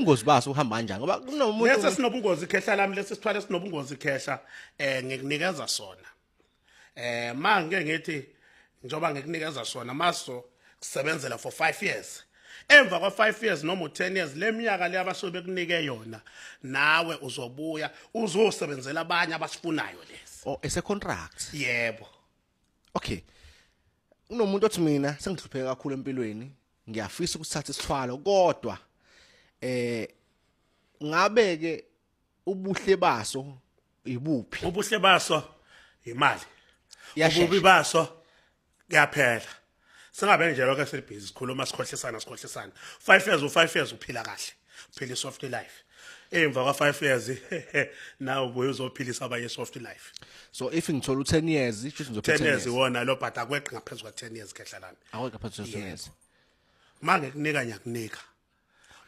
ubungozi baso uhamba kanjani ngoba kunomuntu lesi sinobungozi ikhehla lami lesi sithwale sinobungozi ikhehla eh ngikunikeza sona eh ma ngeke ngithi njoba ngikunikeza sona maso kusebenzela for 5 years emva kwa 5 years noma u10 years leminyaka le abasuke bekunike yona nawe uzobuya uzosebenzela abanye abasifunayo lesi oh ese contract yebo okay unomuntu othi mina sengihlupheka kakhulu empilweni ngiyafisa ukuthatha isithwalo kodwa eh ngabe ke ubuhle baso ibuphi ubuhle baso imali ububi baso kuyaphela singabe nje lokho esibhizi sikhuluma sikhohlisana sikhohlisana 5 years u5 years uphila kahle uphila soft life emva kwa 5 years now boy uzophilisa abanye soft life so if ngithola u10 years kusho ngizophila 10 years wona lo but akweqi ngaphezulu kwa 10 years kehlalana aweka phezulu 10 years mangekunika nyakunika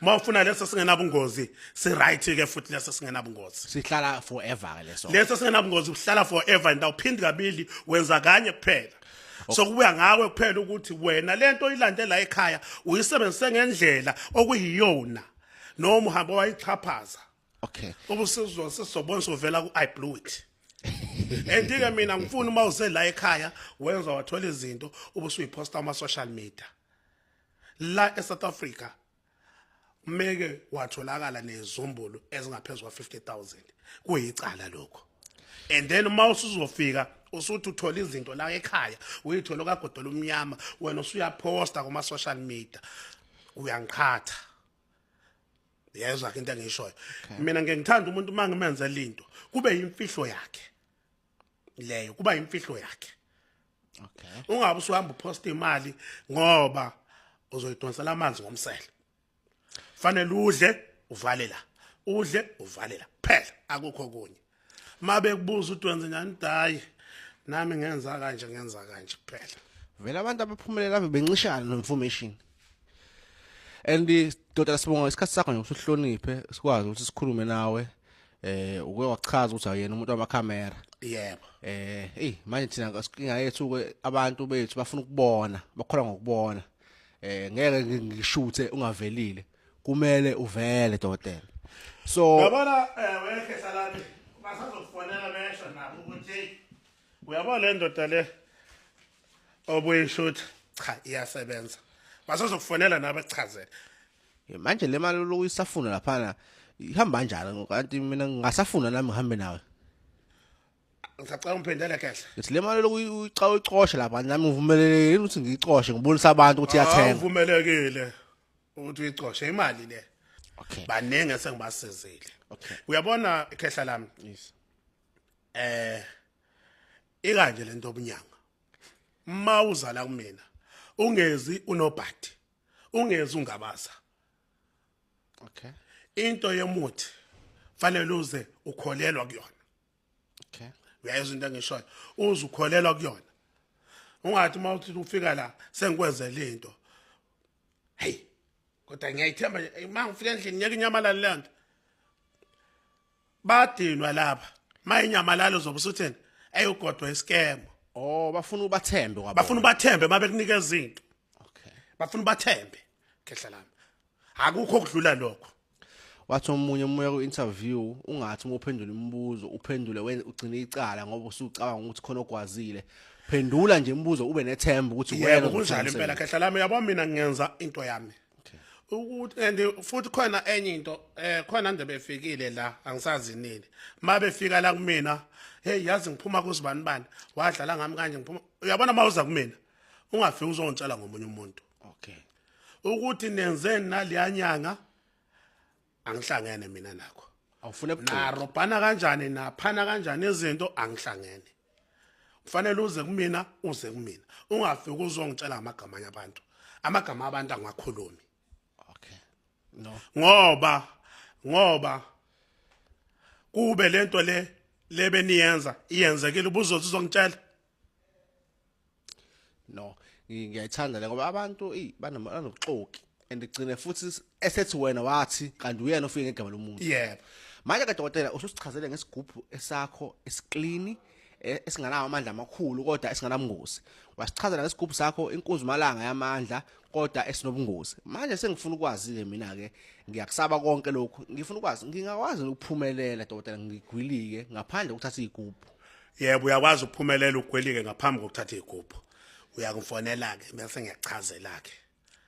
uma ufuna leso singenabungozi si-right ke futhi leso singenabungozi sihlala forever ke leso leso singenabungozi uhlala forever and awuphindi kabili wenza kanye kuphela so kubuya ngawe kuphela ukuthi wena lento oyilande la ekhaya uyisebenzise ngendlela okuyiyona noma uhamba wayichaphaza okay ubusizwa sizobona sovela ku i blew it andike mina ngifuna uma uze la ekhaya wenza wathola izinto ubusuyiphosta ama social media la eSouth Africa umeke watholakala nezumbulu ezingaphezulu kwa50000 kuyicala lokho and then uma usuzofika usuthi uthola izinto la ekhaya uyithola kagodola umnyama wena usuyaposta kuma social media uyangiqhatha yezwa ke into engishoyo mina ngeke ngithanda umuntu uma ngimenze lento kube imfihlo yakhe leyo kuba imfihlo yakhe okay ungabe usuhamba uposta imali ngoba uzoyidonsela amanzi ngomsele fanele udle uvale la udle uvale la phela akukho kunye mabe kubuza udwenze njani dayi nami ngenza kanje ngenza kanje kuphela vele abantu abaphumelela ave bencishana no information and dodana sibonga isikhathi sakho nje usuhloniphe sikwazi ukuthi sikhulume nawe eh uke wachaza ukuthi awuyena umuntu wamakhamera yebo eh hey manje thina inga yethu ke abantu bethu bafuna ukubona bakholwa ngokubona eh ngeke ngishuthe ungavelile kumele uvele dokotela so yabona eh wekhe salami basazokufonela besho nabo ukuthi uyabona le ndoda le obuyishutha cha iyasebenza basazokufonela nabo echazele Eh, manje le mali lokhu isafuna laphana ihamba kanjani kanti mina ngingasafuna nami ngihambe nawe ngisacela ungiphendele kahle ngithi le mali lokhu uyica uyicoshe lapha nami ngivumelelekile yini ukuthi ngiyicoshe ngibonisa abantu ukuthi iyathenga uvumelekile ukuthi uyicoshe imali le okay baningi esengibasizile okay uyabona ikhehla lami yes eh ikanje lento obunyanga uma uzala kumina ungezi unobhadi ungezi ungabaza okay into yemuthi fanele uze ukholelwa kuyona okay uyayizwa into engishoyo uze ukholelwa kuyona ungathi uma uthi ufika la sengikwenzele into hey kodwa ngiyayithemba uma ngifika endlini ngeke inyamalale le nto badinwa lapha uma inyamalale uzobe usutheni eyogodwa isikemo oh bafuna ubathembe kwabo bafuna ubathembe uma bekunikeza into okay bafuna ubathembe khehla lami akukho okudlula lokho wathi omunye umoya ku-interview ungathi uma uphendula imibuzo uphendule ugcine icala ngoba usucabanga ukuthi khona okwazile phendula nje imibuzo ube nethemba ukuthi yebo kunjalo impela khehla lami yabo mina ngenza into yami ukuthi and futhi khona enye into eh khona nje befikile la angisazi nini mabefika la kumina hey yazi ngiphuma kuzibani bani wadlala ngami kanje ngiphuma uyabona mawuza kumina ungafiki uzontshela ngomunye umuntu okay ukuthi nenze naleya nyanga angihlangene mina nakho awufune buqobo narobhana kanjani naphana kanjani izinto angihlangene kufanele uze kumina uze kumina ungafiki uzongitshela amagama anye abantu amagama abantu angakhulumi okay no ngoba ngoba kube lento le lebe niyenza iyenzekile ubuzothi uzongitshela no ngiyayithanda le ngoba abantu eyi banobuxoki and gcine futhi esethi wena wathi kanti uyena ofike ngegama lomuntu yebo manje ke dokotela ususichazele ngesigubhu esakho esiklini e, esinganawo amandla amakhulu kodwa esinganabungozi wasichazela ngesigubhu sakho inkunzi malanga yamandla kodwa esinobungozi manje sengifuna ukwazi ke mina ke ngiyakusaba konke lokhu ngifuna ukwazi ngingakwazi ukuphumelela dokotela ngigwilike ngaphandle kokuthatha izigubhu yebo uyakwazi ukuphumelela ugwelike ngaphambi kokuthatha igubhu uyakufonela ke bese ngiyachazela ke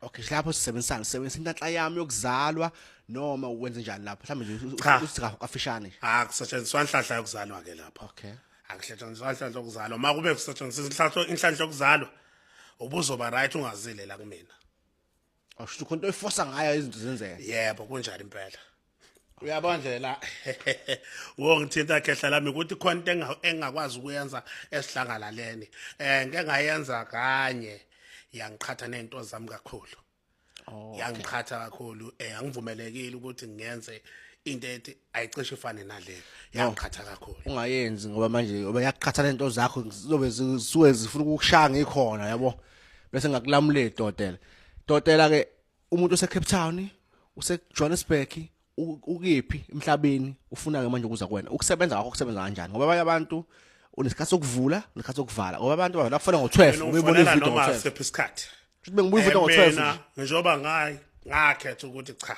okay lapho sisebenzisana sisebenzisa intatla yami yokuzalwa noma ukwenze njani lapho mhlawumbe nje Cha. usika kafishane ah kusetshenziswa inhlahla yokuzalwa ke lapho okay akusetshenziswa inhlahla yokuzalwa uma kube kusetshenziswa inhlahla inhlahla yokuzalwa ubuzoba right ungazile la kumina Awusho khona oyifosa ngayo izinto zenzeka. Yebo kunjalo impela. Uyabona nje la wongithinta khehla lami ukuthi khona into engakwazi ukuyenza esihlangalaleni. Eh ngeke ngayenza kanye yangiqhatha nezinto zami kakhulu. Oh. Yangiqhatha kakhulu eh angivumelekile ukuthi ngenze into ethi ayicishe ifane nale yaqhatha kakhulu ungayenzi ngoba manje ngoba yaqhatha lento zakho zizobe zisuke zifuna ukukushaya ngikhona yabo bese ngakulamule idodela idodela ke umuntu ose Cape Town use Johannesburg ukephi emhlabeni ufuna ke manje ukuza kuwena ukusebenza kwakho kusebenza kanjani ngoba abanye abantu unesikhathi sokuvula nesikhathi sokuvala ngoba abantu bavela kufona ngo12 ubuyibona ivideo ngo12 isikhathi bengibuyivuta ngo12 njengoba ngayi ngakhetha ukuthi cha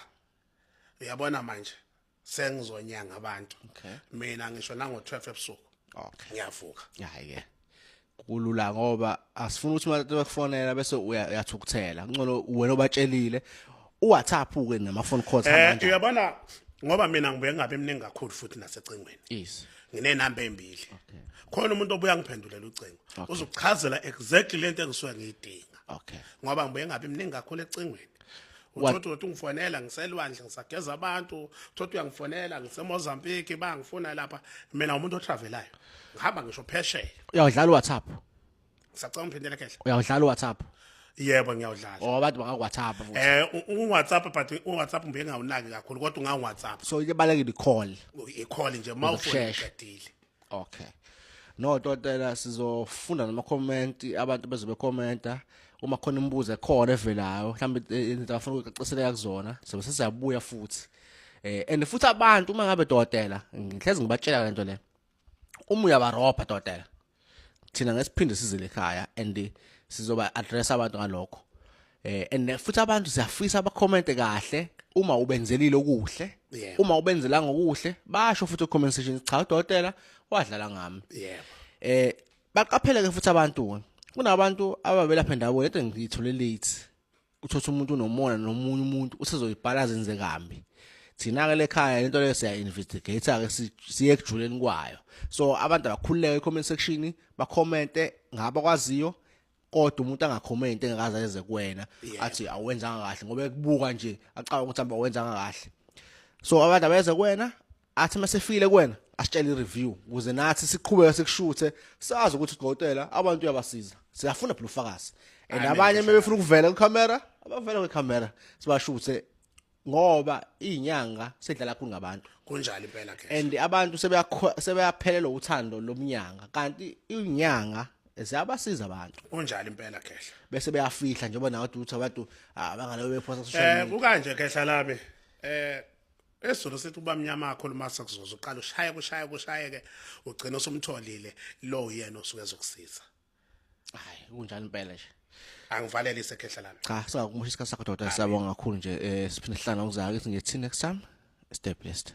uyabona manje sengizonyanga abantu Okay. mina ngisho nango 12 ebusuku Okay. ngiyavuka Hayi ke. Kulula ngoba asifuna ukuthi abantu bakufonela bese uya- uyathukuthela. Ngcono wena obatshelile uWhatsApp ke nama phone calls eh manje. uyabona ngoba mina ngibuye ngabe emningi kakhulu futhi nasecingweni Yes. nginenamba embili khona umuntu obuya ngiphendulela ucingo uzokuchazela exactly lento engisuke ngiyidinga Okay. ngoba ngibuye ngabe emningi kakhulu ecingweni uthotha ukuthi ungifonela ngiselwandle ngisageza abantu uthotha uyangifonela ngisemozambique bangifuna lapha mina umuntu otravelayo ngihamba ngisho phesheya uyawudlala uwhatsapp ngisacela umphindele khehle uyawudlala uwhatsapp yebo ngiyawudlala oh abantu baka-whatsapp futhi eh u-whatsapp but u-whatsapp ngibe ngawunaki kakhulu kodwa unga-whatsapp so ibalekile i-call i-call nje uma ufonile okay no totela sizofunda nama comment abantu bezobe commenta uma khona imibuzo ekhona evelayo mhlawumbe eh, into afuna ukucaceleka kuzona sobe sizabuya futhi eh and futhi abantu uma ngabe totela ngihlezi ngibatshela lento le uma uyabarobha totela thina ngesiphinde sizile ekhaya and sizoba address abantu ngalokho eh and futhi abantu siyafisa abacomment kahle uma ubenzelile okuhle yeah. uma ubenzela ngokuhle basho futhi comment section cha udokotela wadlala ngami yeah. eh baqaphele ke futhi abantu kunabantu ababelapha endawo lento ngiyithole late uthotha umuntu unomona nomunye umuntu usezoyibhala zenze kambi thina ke lekhaya lento leyo siya investigate ke siye ekujuleni kwayo so abantu abakhululeke comment section ba commente ngaba kwaziyo kodwa umuntu angakhomenti engakaze ayenze kuwena athi awenzanga kahle ngoba ekubuka nje acaba ukuthi hamba wenzanga kahle so abantu abeze kuwena athi masefile kuwena asitshele i-review ukuze nathi siqhubeke sikushuthe sazi ukuthi udokotela abantu uyabasiza siyafuna phela ufakazi and abanye uma befuna ukuvela kwicamera abavela kwicamera sibashuthe ngoba izinyanga sedlala kakhulu ngabantu kunjalo impela ke and abantu sebeyaphelelwa uthando lomnyanga kanti izinyanga ziyabasiza abantu kunjalo impela khehla bese beyafihla njengoba nawe uthi abantu abangaleyo ah, bephosa social eh, media eh kukanje khehla lami eh esizulu sithi ubamnyama akho lumasa kuzoza uqala ushaye kushaye kushayeke ugcina usumtholile lo yena osuke ezokusiza hayi kunjani impela nje angivalele isekhehla lami cha singakumusha isikhathi sakho doda siyabonga kakhulu nje eh siphinde sihlala ngizake ukuthi ngithi next time stay blessed